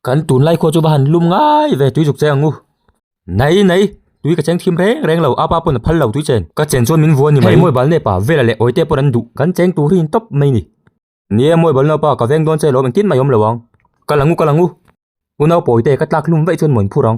Kan tunlai khuachu va han lum ngai ve tui zuk che ang u. Nai nai, tui ka cheng thim reng reng lo, apa pawn a phal lo tui chen. Ka chen chuan min vuan ni mai. Hei Mawi bal nepa, Vela leh Awite pawn an duh, kan cheng tur hi in tawp mai ni. Ni e, Mawi bal nepa, ka veng dawn che lo, engtin mai awm lo ang. Ka lang u, ka lang u. U nau pawi te, ka tlak hlum veih chuan mawin phur ang.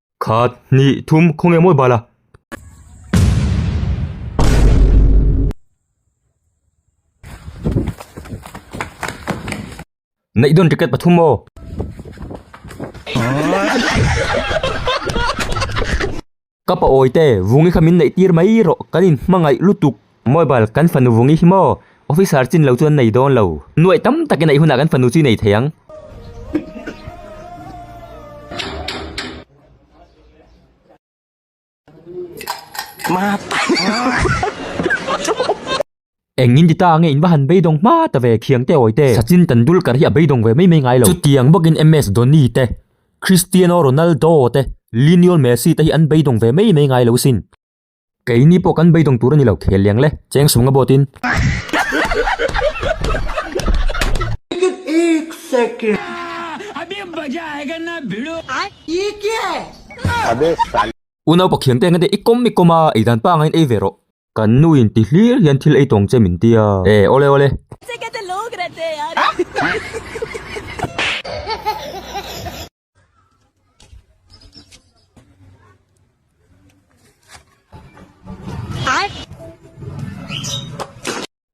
Khat, hnih, thum, khaw nge mawi bala. Neih dawn ticket pathum maw? Ka paawite, vungi kha min neih tir mai rawh, kan inhmangaih lutuk. Mobile kan fanu vungi hi maw? Officer chin lo chuan nei dawn lo. Nuaih tam tak in a i hunah kan fanu chu i nei thei ang. Engin ti ta ang e in va han beidawng hma ta ve, khiang te awi te. Sachin Tendulkar hi a beidawng ve mai mai ngai lo. Chutiang bawkin MS Dhoni te, Cristiano Ronaldo te, Lionel Messi te hi an beidawng ve mai mai ngai lo sin. Keini pawh kan beidawng tur a ni lo, khel liang le, cheng sunga bawt in. U naupa khiang te engate i kawm i kawm a, ei dan panga in ei ve rawh. Kan nu in ti hlir hian thil ei tawng che min ti a, e awle awle.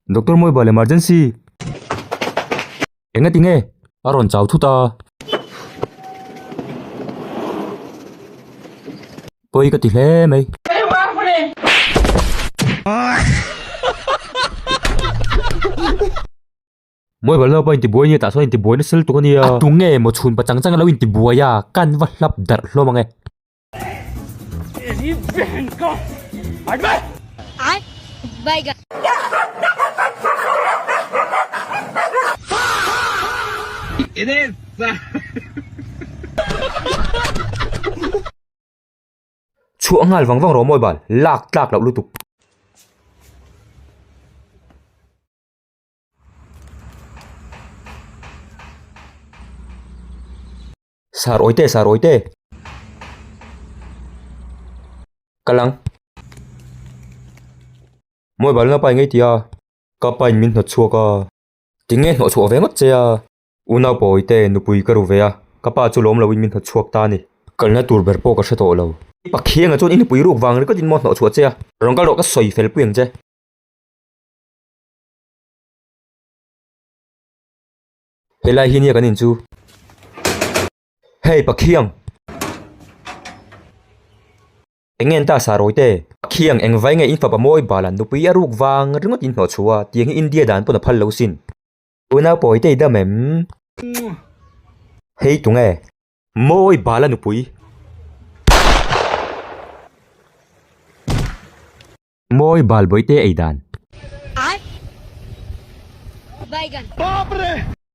Doctor moi bal emergency. Enga tinge? Aron chau thu ta. Poi ka ti hle mai. Mawi balh naupa inti buai nge tah chuan inti buai na sel tuk a nia. A tu nge maw chhun pachang chang a lo inti buai a, kan va hlap darh hlawm ang e. Chhuah nghal vang vang rawh mawi bal, lak tlak loh lutuk. Sir Awite, Sir Awite. Ka lang. Mobile na pai ngei ti a. Ka pain min hnawt chhuak a. Ti nge hnawh chhuah ve ngawt che a. U Naupa Awite, nupui ka ru ve a. Ka pa chu lawm loin min hnawt chhuak ta a ni. Kalna tur ber pawh ka hre tawh lo. I Pathianga chuan i nupui ruk vang ringawt in maw hnawh chhuah che a. Rawn kal rawh ka sawi fel puiang che. He lai hi nia kan in chu. Hei Pathiang! Eng nge an ta sa rawite? Pathiang, eng vai nge in fapa mawi balan nupui a ruk vang ringawt in hnawh chhu a? Tiang hi India dan pawn a phal lo sin. Unau pawi te i dam em? Hei tu nge? Mawi bala nupui. Mawi bal bawi te ei dan.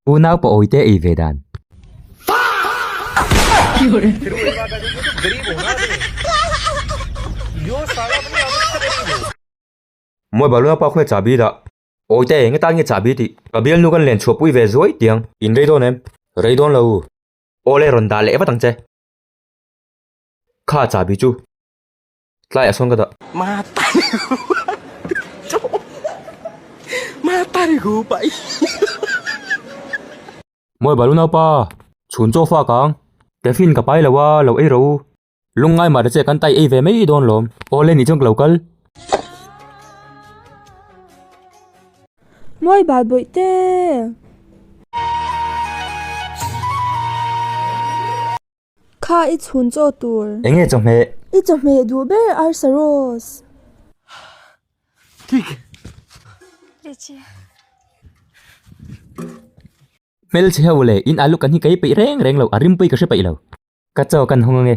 Unau pawi te ei ve dan. Mawi bal unau pawi khawmeh chahbi dah. Pawi te enge tan nge chahbi tih. Ka bialnu kan len chhuah pui ve zuai tiang. In rei dawn em? Rei dawn lo u. Awle rawn dah leh vat ang che. Kha chahbi chu. Tlai a sawn ka dah. Ma tari hu Ma tari hu pai Mawi balu naupa chhun chaw fak ang Caffeine ka pai lo a lo ei ro u Lung ngai mah ta che kan tai ei ve mai dawn lawm Awle nih chuan ka lo kal. Mawi bal bawih te. Kha i chhun chaw tur. Eng nge chawhmeh? I chawhmeh duh ber arsa Rose. Tik. Lehchhi. Hmelchhe ho u le, in alu kan hi kei peih reng reng lo, a rim pui ka hre peih lo. Ka chaw kan hawng ang e.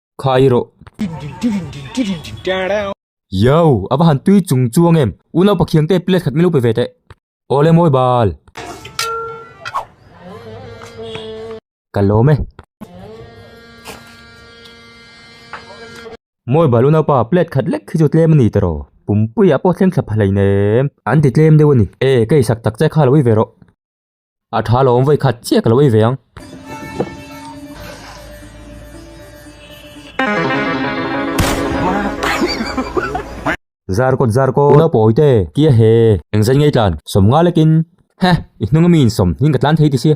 Khai rawh. Yow! A va han tui chung chuang em! U Naupa Khiang te plate khat min lo pe ve teh. Aw le mawi bal. Ka lawm e. Mawi bal u Naupa, plate khat lek hi chu tlem a ni ta raw. Pumpuia pawh thleng thlap hleinem. An ti tlem deuh a ni. E, ka isak tak che kha lo i ve rawh. A tha lo awm vawi khat chiah ka lo ei ve ang. Zar kawt zar kawt. Pu Naupawi te kia he eng zai ngei tlan sawm nghal akin he i hnunga mi insawm in ka tlan thei tisia.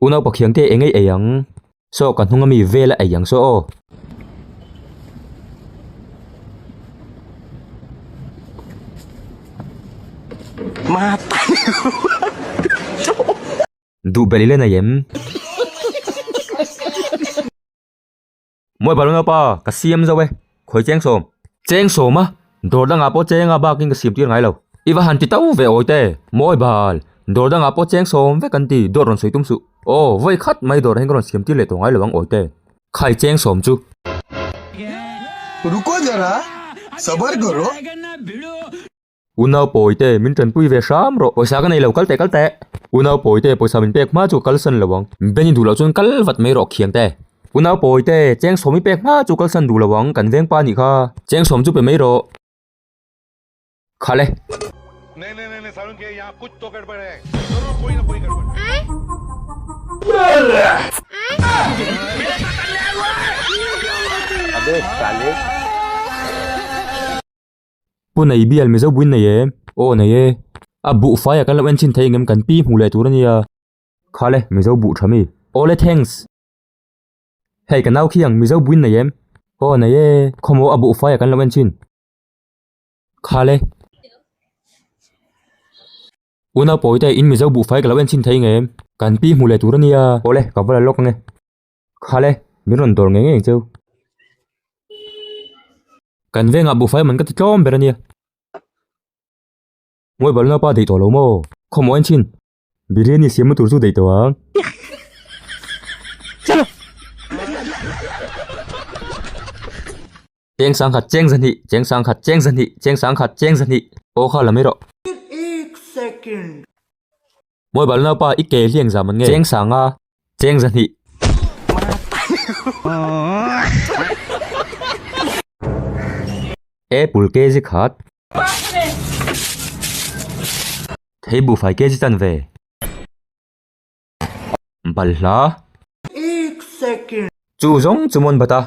U Naupa Khiangte eng nge ei ang? Saw ka hnunga mi vel a ei ang saw aw. Duh belh i la nei em? Mawi bal emaw pa, ka siam zo e, khawi cheng sawm. Cheng sawm a, dawr dangah pawh chenga bakin ka siam tir ngai lo. I va han ti to ve awi te. Mawi bal, dawr dangah pawh cheng sawm vek an ti, dawt rawn sawi tum suh. Aw, vawi khat mai dawrah hian ka rawn siam tir leh tawh ngai lo ang awi te. Khai cheng sawm chu. Ruko zara, sabar karo. Unau pawi te min tan pui ve hram rawh. Pawisa ka nei lo kal teh kal teh. Unau pawi te pawisa min pek hma chu ka kal san lo ang. Ben i duh loh chuan kal vat mai rawh khiang te. Unau pawi te cheng sawm i pek hma chu kal san duh lo ang kan vengpa nih kha. Cheng sawm chu pe mai rawh. Kha le. Pu nei bial Mizo buin nei e. Aw nei e. A buhfai a kan lo enthin thei engem kan pi hmuh leh tur a nia. Kha le, Mizo buh tha mi? Aw le thanks. Hei ka nau khiang, Mizo buin nei em? Aw nei e. Khawmaw a buhfai a kan lo enthin. Kha le. U Naupawi te, in Mizo buhfai ka lo enthin thei engem? Kan pi hmuh leh tur a nia. Aw le, ka va la lawk ang e. Kha le, min rawn dawr ngei ngei che u. Kan vengah buhfai man ka ti tlawm ber a nia. Ngawi bal napa dei tawh lo maw? Khawmaw en thin? Biryani siam na tur chu dei tawh ang. Cheng sang khat cheng za hnih, cheng sang khat cheng za hnih, cheng sang khat cheng za hnih. Aw kha la mai rawh. Mawi bal nau pa i ke hliang za man ngei. Cheng sang a, cheng za hnih. Apple kg khat. Thei buhfai kg chan ve. Bal hla. Ek second. Chu zawng chu mawn bata.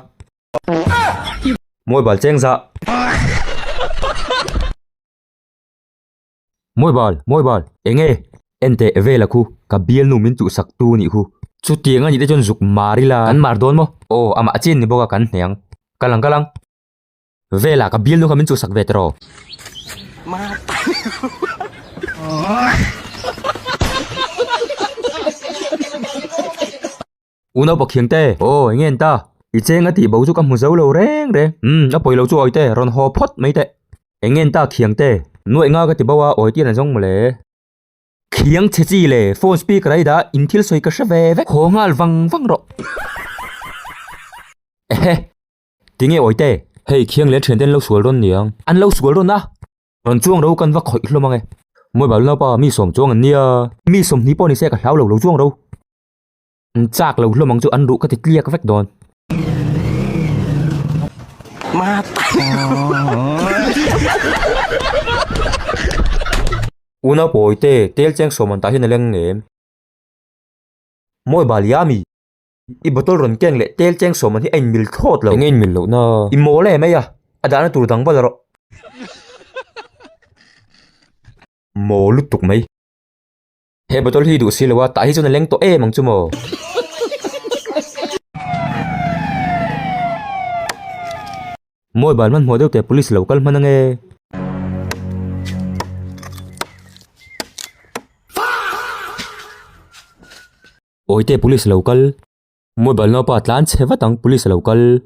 Mawi bal cheng za. Mawi bal, mawi bal. Enge? Enteh vel a khu, ka bialnu min chuhsak tu nih khu. Chutiang a nih te chuan zuk mar ila. Kan mar dawn maw? Aw, amah chin ni bawka kan hniang. Ka lang, ka lang. Vela, ka bialnu kha min chuhsak ve tawh raw. U Naupakh Thiang te, Aw enge an ta? I cheng a tih bo chu ka hmu zo lo reng reng. Umm a pawi lo chu Awite, rawn haw phawt mai teh. Enge an ta Khiang te? Nuaih nga ka ti bo a, Awite an zawng mawle. Khiang che chi le, phone speaker ai dah, in thil sawi ka hre ve ve. Haw nghal vang vang rawh. Ehe. Ti nge Awite? Hei Khiang leh Thiante an lo sual rawn niang. An lo sual rawn a. Rawn chuang ro kan va khawih hlawm ang e. Mawibal naupa mi sawm chuang an nia. Mi sawmhnih pawh ni se ka hlau lo, lo chuang ro. An chak lo hlawm ang chu an ruh ka ti tliak vek dawn. Unau pawi te, tel cheng sawm an tah hian a leng em? Mawi bal yummy. I bottle rawn keng leh tel cheng sawm an hi a in mil thawt lo. Eng a in mil loh na? I mawl em eia, a dahna tur dang bala rawh. Maw lutuk mai. He bottle hi duh si lo a, tah hi chuan a leng tawh em ang chu maw. Mawi ban hmanhmawh deuh teh police lo kal hman ang e. Awi teh police lo kal. Mawi ban naupa tlan che vat ang police lo kal.